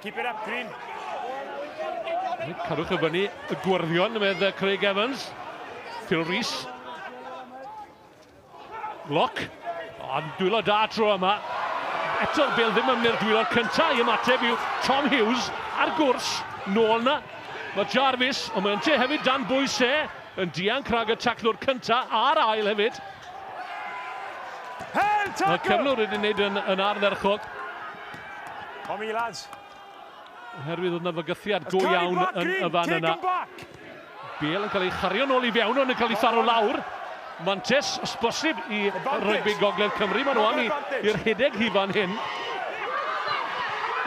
Keep it up, Green. Cadwch y fyny y gwrddion, medd Craig Evans. Phil Rees. Lock. Ond dwylo da tro yma. Eto Bale ddim yn mynd dwylo cyntaf i ymateb yw Tom Hughes ar gwrs. Nôl na. Mae Jarvis, ond mae'n te hefyd dan bwys e. Yn dian crag y taclwr cyntaf a'r ail hefyd. Mae cyflwr wedi wneud yn, yn ardderchog. Come lads. Oherwydd oedd yna fygythiad go iawn yn y fan yna. Bale yn cael ei chario nôl i fewn, ond yn cael ei tharo lawr. Mantes, os bosib, i rygbi gogledd Cymru. Mae'n o'n i'r hideg hi fan hyn.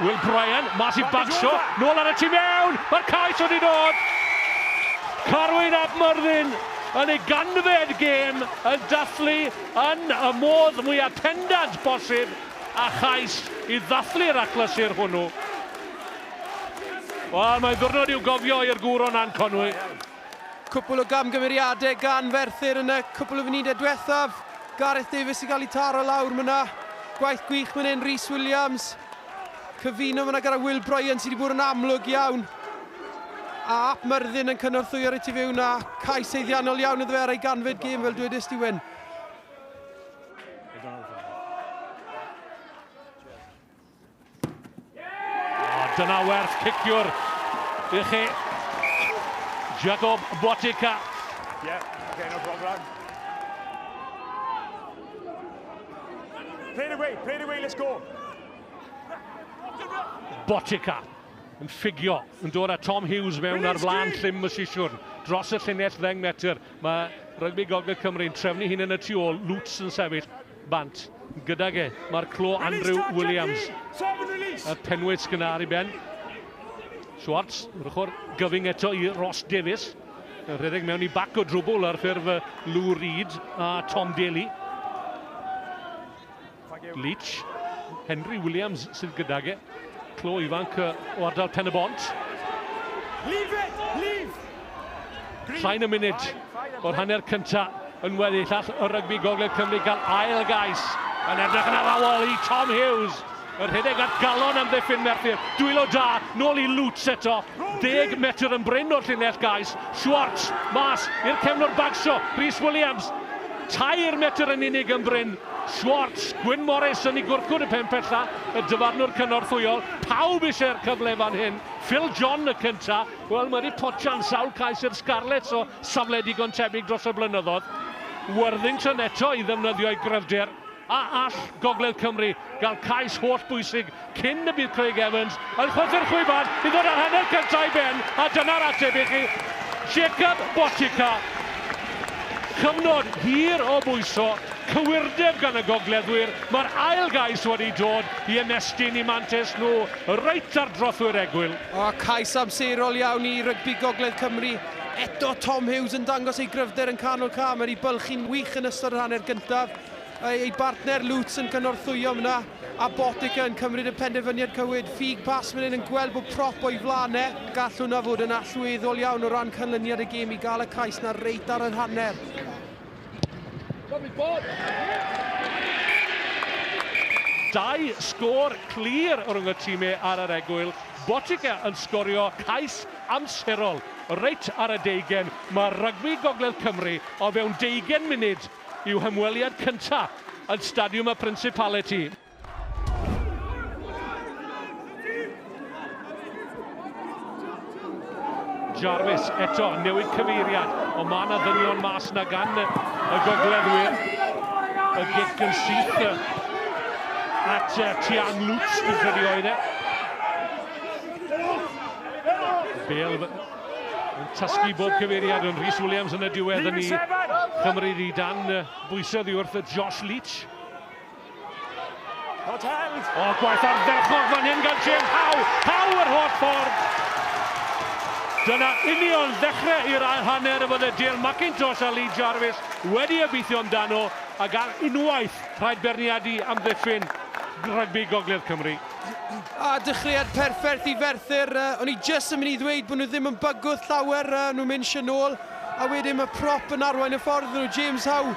Will Bryan, mas i bagsio, nôl ar y tu mewn, mae'r cais wedi dod. Carwyn ap Myrddin yn ei ganfed gêm yn dathlu yn y modd mwyaf pendant bosib. a chais i ddathlu'r achlysur hwnnw. Wel, mae'n ddwrnod i'w gofio i'r gŵr o Nan Conwy. Cwpwl o gamgymeriadau gan Ferthyr yn y cwpwl o funudau diwethaf. Gareth Davies sy'n cael ei taro lawr myna. Gwaith gwych fan hyn, Rhys Williams. Cyfuno fyna gyda Will Bryan sydd wedi bod yn amlwg iawn. A Ap Myrddin yn cynorthwyo reit i fewn a cais seiddiannol iawn iddo fe ar ei ganfed gêm fel dwedist ti Wyn. Dyna werth ciciwr i chi. Jacob Botica. Yeah, okay, no problem. Play it away, play it away, let's go. Botica yn ffigio, yn dod â Tom Hughes mewn ar flan llym y sisiwrn, dros y llinell ddeng metr. Mae rygbi Gogledd Cymru'n trefnu hyn yn y tu ôl, Lutz yn sefyll bant gydag e. Mae'r clo Andrew Williams, y penwyt gynnar i ben. Schwartz, yr ochr gyfyng eto i Ross Davies. Y rhedeg mewn i bac o drwbwl ar ffurf Lou Reed a Tom Daly. Leach, Henry Williams sydd gydag e, clo ifanc o ardal Pen y Bont. Leave it! Leave! Llain y munud o'r hanner cynta yn weddi llall y rygbi Gogledd Cymru gael ail gais yn edrych yn arawol i Tom Hughes. Yr rhedeg at galon am ddiffyn Merthyr. Dwylo da, nôl i Lutz eto. Deg metr yn bryn o'r llinell gais. Schwartz, mas i'r cefnwr bagsio. Rhys Williams, tair metr yn unig yn bryn. Schwarz, Gwyn Morris yn ei gwrthgwr y pen pella, y dyfarnwr cynorthwyol, pawb eisiau'r cyfle fan hyn, Phil John y cynta, wel mae wedi potsian sawl cais i'r Scarlets o safle digon tebyg dros y blynyddoedd, Worthington eto i ddefnyddio'i gryfder, a all Gogledd Cymru gael cais holl bwysig cyn y bydd Craig Evans yn chwythu'r chwibad i ddod â'r hanner cyntaf i ben, a dyna'r ateb i chi, Jacob Boucica. Cyfnod hir o bwyso, cywirdeb gan y gogleddwyr, mae'r ail gais wedi dod i ymestyn i mantes nhw reit ar drothwy'r egwyl. O, cais amserol iawn i rygbi gogledd Cymru. Eto Tom Hughes yn dangos ei gryfder yn canol cam, wedi bylchu'n wych yn ystod yr hanner gyntaf. Ei bartner Lutz yn cynorthwyo fan'na. A Botica yn cymryd y penderfyniad cywir. Ffug pas fan hyn yn gweld bod prop o'i flan e. Gall hwnna fod yn allweddol iawn o ran canlyniad y gêm i gael y cais 'na reit ar yr hanner. Dau sgôr clir rhwng y time ar yr egwyl. Botica yn sgorio cais amserol reit ar y deugain. Mae rygbi Gogledd Cymru o fewn deugain munud yw hymweliad cyntaf yn Stadiwm y Principality. Jarvis eto newid cyfeiriad, o mae yna ddynion mas na gan y gogleddwyr. Y gic yn syth at Tiang Lutz, dwi'n credu oedd e. Bale Yn tasgu bob cyfeiriad yn Rhys Williams yn y diwedd yn ei chymryd i dan bwysau ddi wrth y Josh Leach. O, gwaith ardderchog fan hyn gan James Howe. Howe yr holl ffordd. Dyna union ddechrau i'r ail hanner y bydde Dale McIntosh a Lee Jarvis wedi obeithio amdano ac ar unwaith rhaid berniadu amddiffyn rygbi Gogledd Cymru. A dechreuad perffaith i Ferthyr. Uh, o'n i jyst yn mynd i ddweud bod nhw ddim yn bygwth llawer, uh, nhw'n mynd sy'n ôl. A wedyn mae prop yn arwain y ffordd nhw, James Howe.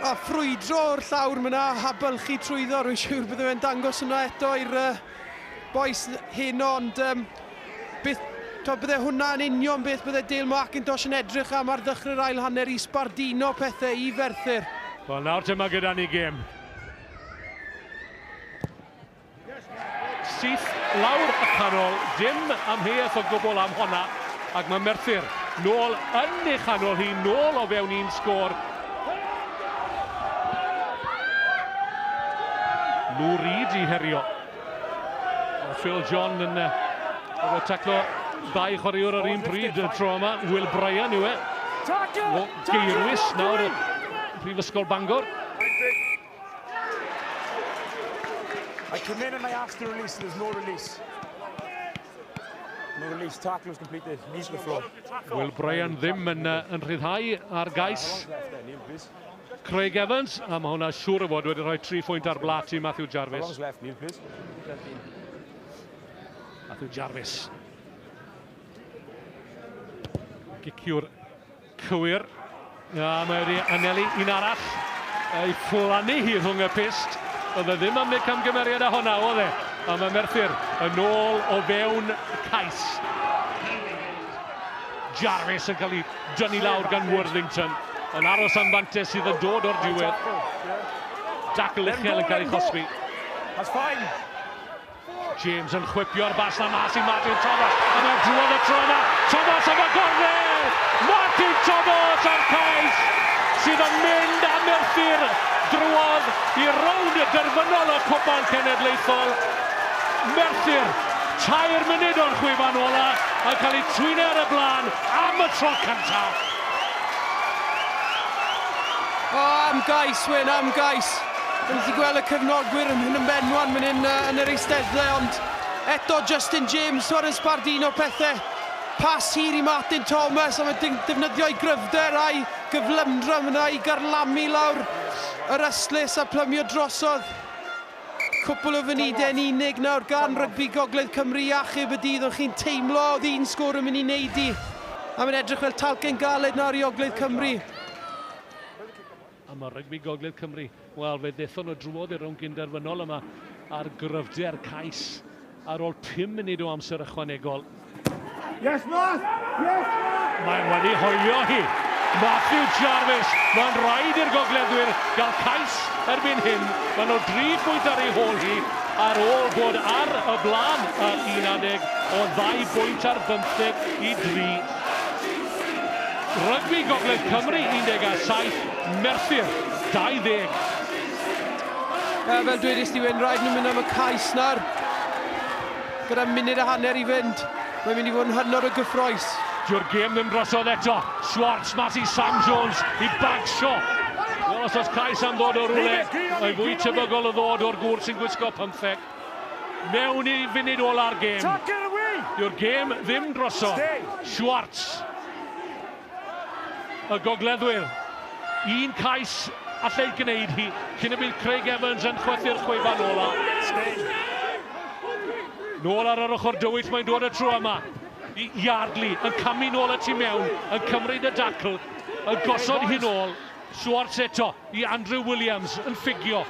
A ffrwydro o'r llawr myna, a bylchu trwyddo. Rwy'n siŵr bydde fe'n dangos hwnna eto i'r uh, boes hyn, ond um, beth, to, bydde hwnna yn union beth bydde Dale Markintosh yn edrych am ar ddechrau'r ail hanner i sbardino pethau i Ferthyr. Wel nawr dyma gyda ni gêm. Syth lawr y canol, dim amheuaeth o gwbl am honna, ac mae Merthyr nôl yn ei chanol hi, nôl o fewn un sgôr. Lou Reid i herio. Phil John yn uh, taclo ddau chwaraewr ar un bryd y tro yma. Will Bryan yw e. O geirwys nawr y Prifysgol Bangor. I come in and I ask to release, there's no release. No release, tackle was completed, knees to the floor. Will Bryan ddim yn, uh, yn rhyddhau ar gais. Craig Evans, a mae hwnna siŵr o fod wedi rhoi tri phwynt ar blat i Matthew Jarvis. Matthew Jarvis. Giciwr cywir. A mae wedi anelu un arall ei fflannu hi rhwng y pist. Oedd e ddim am wneud camgymeriad â hwnna, oedd e? A mae Merthyr yn ôl o fewn cais. Jarvis yn cael ei dynnu lawr gan Worthington, yn aros am fantes sydd yn dod o'r diwedd. Dackle uchel yn cael ei chosbi. That's fine. James yn chwipio'r bas na mas i Martin Thomas. A mae'n drwodd y tro yna. Thomas am y gornel! Martin Thomas a'r cais sydd yn mynd am erthyr drwodd i rownd y derfynol y Cwpan Cenedlaethol. Merthyr, tair munud o'r chwefan ola, yn cael ei twyne ar y blaen Am y tro cyntaf! O, am gais, Wyn, am gais. Dyn ni wedi gweld y cefnogwyr yn hyn yn benwan fan hyn yn yr eisteddle, ond eto Justin James twar yn sbardino pethau. Pas hir i Martin Thomas, ond mae'n defnyddio ei gryfder a'i gyflymdra yna i garlamu lawr yr ystlys a plymio drosodd. Cwpwl o funudau yn unig nawr gan rygbi Gogledd Cymru i achub y dydd ond chi'n teimlo oedd un sgôr yn mynd i neud i a mae'n edrych fel talcen galed nawr i Ogledd Cymru. Yma rygbi Gogledd Cymru, wel fe ddethon nhw drwodd i'r rownd gyn-derfynol yma ar gryfder cais ar ôl pum munud o amser ychwanegol. Yes, Math! Yes, Math! Mae'n wedi hoelio hi. Matthew Jarvis, mae'n rhaid i'r gogleddwyr gael cais erbyn hyn. Mae nhw dri pwynt ar ei hôl hi ar ôl bod ar y blaen ar un adeg o ddau bwynt ar bymtheg i dri. Rygbi Gogledd Cymru 17, Merthyr 20. Uh, fel dwedais ti, Wyn, rhaid nhw mynd am y cais nawr. Gyda munud a hanner i fynd, mae'n mynd i fod yn hynod o gyffroes. Dyw'r gêm ddim drosodd eto. Schwartz mas i Sam Jones i bagsio. Wel, os oes cais am ddod o rwle, mae fwy tebygol o ddod o'r gŵr sy'n gwisgo pymtheg. Mewn i funud ola'r gêm. Dyw'r gêm ddim drosodd. Schwartz. y gogleddwyr. Un cais allai gwneud hi cyn y bydd Craig Evans yn chwythu'r chwefan ola. Stein. Nôl ar yr ochr dywyll mae'n dod y tro yma. I Yardley yn camu nôl y tu mewn, yn cymryd y dacl, yn gosod hi'n ôl. Schwarz eto i Andrew Williams yn ffugio.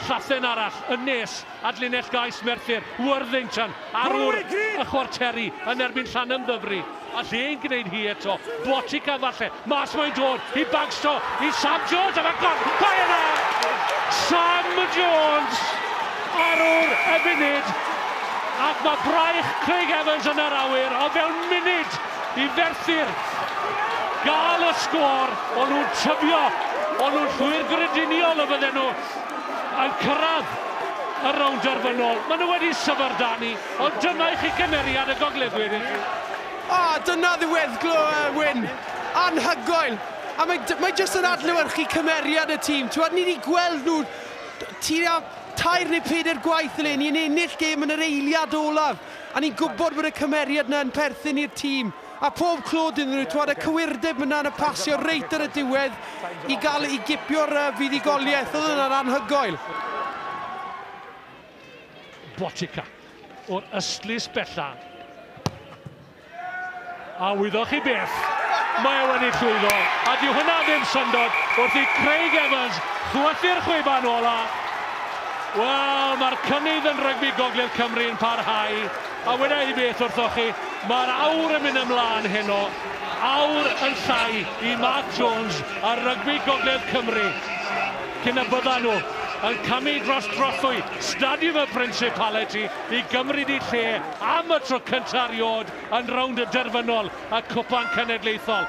Llathen arall yn nes at linell gais Merthyr, Worthington ar wr y chwarteri yn erbyn Llanymddyfri. A lle yn gwneud hi eto, Botica falle, mas mae'n dod i Bagsto, i Sam Jones am agor, mae yna! Sam Jones ar wr y funud, ac mae braich Craig Evans yn yr awyr o fewn munud! i ferthyr gael y sgôr, o'n nhw'n tyfio, o'n nhw'n llwyr grediniol y fydden nhw yn cyrraedd y rownd derfynol. Maen nhw wedi syfrdanu, ond dyna i chi gymeriad y gogledwyr i chi. A dyna ddiweddglo y win. Anhygoel. A mae, mae jyst yn adlewyrchu cymeriad y tîm. Ti'n ni wedi gweld nhw tua tair neu peder gwaith eleni yn ennill gêm yn yr eiliad olaf. A ni'n gwybod bod y cymeriad 'na yn perthyn i'r tîm, a phob clod iddyn nhw, t'mod, y cywirdeb yna yn y pasio reit ar y diwedd i gael, i gipio'r yy fuddugoliaeth, oedd hwnna'n anhygoel. Botica o'r ystlys bella. A wyddoch chi beth? Mae e wedi llwyddo, a dyw hynna ddim syndod, wrth i Craig Evans chwythu'r chwiban ola'. Wel, mae'r cynnydd yn rygbi Gogledd Cymru yn parhau, a weda i beth wrthoch chi, mae'r aur yn mynd ymlaen heno, aur yn llai i Mark Jones a rygbi Gogledd Cymru, cyn y byddan nhw yn camu dros drothwy Stadiwm y Principality i gymryd eu lle am y tro cyntaf erioed yn rownd y derfynol y Cwpan Cenedlaethol.